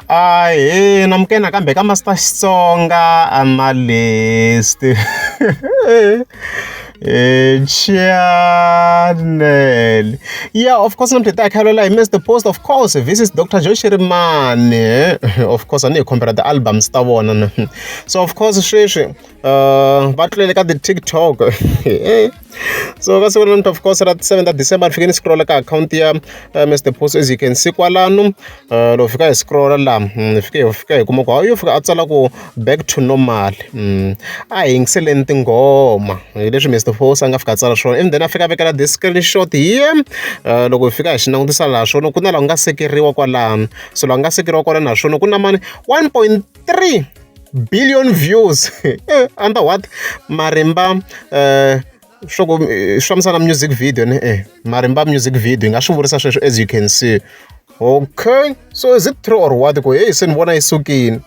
Ahee na muke nakambe ka Master Xitsonga a ma list channel ya of course namuntlha hi ta hi khayelo la hi Mister Post of course this is Doctor Joe Shirimani of course a ni hi khombela ti albums ta vona na so of course sweswi va tlulele ka ti TikTok. so ka siku namuntlha of course ra ti seven ta december ni fike ni scrolla ka akhawunti ya eh, mr post as you can see kwalano eh, loko fika hi scrolla la ni hmm, fike hi fika hi kuma ku yo fika a tsala ku back to normal hmm, a hi yingiseleni tinghoma hi leswi mr post a nga fika a tsala swona and then a fika a vekela this screenshot here eh, loko hi fika hi xi langutisa laha swona ku na laha ku nga sekeriwa kwalano so laha ku nga sekeriwa kwalano naswona ku na mani 1.3 billion views under what marimba uh, swa ku eh, swi fambisana music video ne e marimba music video yi nga swi vurisa sweswo as you can see okay so is it true or what ku heyi se ni vona yi sukile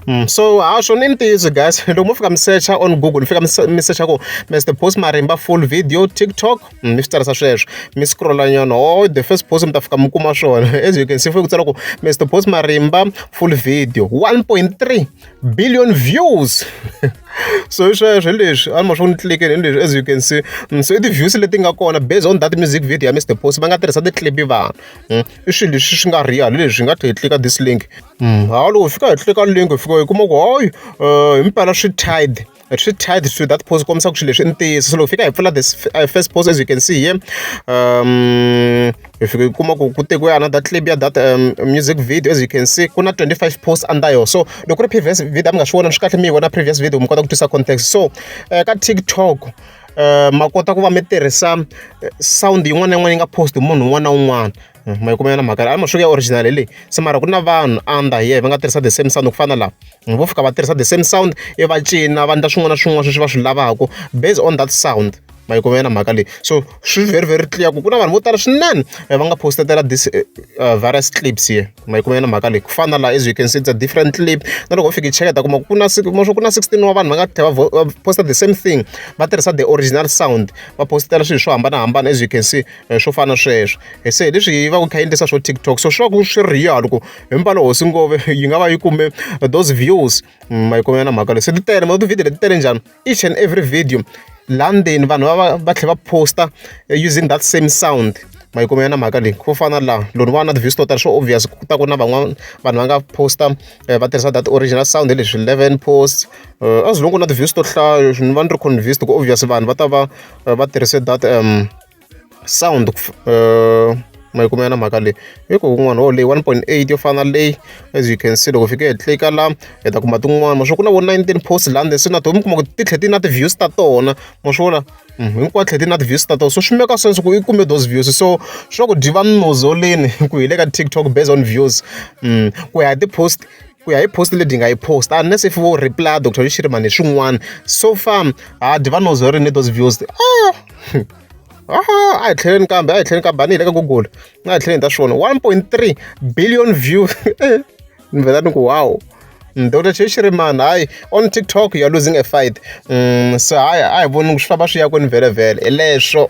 Mm, so ha swo ni ntiyiso guys loko mo fika mi searcha on google ni fika mi searcha ku mr post marimba full video tiktok mi swi tsarisa sweswo mi scrolla nyana o the first post mi ta fika mi kuma swona as you can see fuye ku tsala ku mr post marimba full video 1.3 billion views so hi sweswo hi leswi a ni ma swi ku ni tlikele hi leswi as you can see mm, so i ti-views leti nga kona based on that music video ya mr post va nga tirhisa ti-clip vanhu mm, i swilo leswi swi nga real hi leswi hi nga tlhe hi tlika this link mm, hawu loko hi fika hi tlika link hi fika hi kuma ku hoyi um eh, hi mpela swi tide swi tied to that post kombisa ku swilo leswi i ntiyiso so loko fika hi pfula this uh, first post as you can see here um hi fika hi kuma ku ku tekiwe another clip ya that um, music video as you can see ku na 25 posts under yo so loko ku ri previous video mi nga swi vona swi kahle mi yi vona previous video mi kota ku twisa context so uh, ka tiktok Eh, ma kota ku va mi tirhisa eh, sound yin'wana na yin'wana yi nga post munhu un'wana na un'wana ma yi kuma yona mhaka leyi a masweka ya original hi leyi se mara ku na vanhu under here va nga tirhisa the same sound ku fana na lava vo fika va tirhisa the same sound i va cina va endla swin'wana na swin'wana sweswi va swi lavaka based on that sound ma yi kuma yona mhaka leyi so swi very very clear ku ku na vanhu vo tala swinene va nga postetela this various clips here ma yi kuma yona mhaka leyi ku fana na laha as you can see it's a different clip na loko u fika i cheka ta kuma ku na maswo ku na 16 wa vanhu va nga tlhela va posta the same thing va tirhisa the original sound va postetela swilo swo hambanahambana as you can see eh, swo fana sweswo eh, se hi leswi yi va ku kha yi endlisa swo tiktok so swi va ku swi ri yalo ku himpalo hosi ngove yi nga va yi kume those views mm, ma yi kumela na mhaka leyi se ti tele ma tivhidiyo leti tele njhani each and every video laha ndzeni vanhu va va tlhela va posta eh, using that same sound ma yi kumela na mhaka leyi ku fana laha loni va na ti-views to tala swo obvious ku ta ku na van'wana vanhu va nga posta eh, va tirhisa that original sound hi leswi eleven posts eh, as long ku na ti-views to hlaya ni va ni ri convinced ku obvious vanhu va ta va eh, va tirhise that um sound uh, mayikumela na mhaka leyi i ku kun'wana wo leyi 1.8 yo fana na leyi as you can see loko fike hi tlika la hi ta kuma tin'wana ma swi ku na vo 19 post la ndzeni swi na to mi kuma ku ti tlhe ti na ti-views ta tona ma swi vona mm, hinkwawu tlhe ti na ti-views ta tona so swi meka sense ku i kume those views so swa ku dyi va minozoleni ku hi le ka tiktok based on views mm, ku ya hi ti-post ku ya hi post leti nga yi post unless if vo reply dr lishiri mani swin'wana so far ha dyi va nozorini those views ah a hi tlheleni kambe a hi tlheleni kambe a ni hi le ka google a hi tlheleni ta swi vona one point three billion view ni vhela ni ku wow dr cheshiriman hayi on tiktok youare losing a fight um so hayi a hi voni swi famba swi ya kwini vhelevhele hi leswo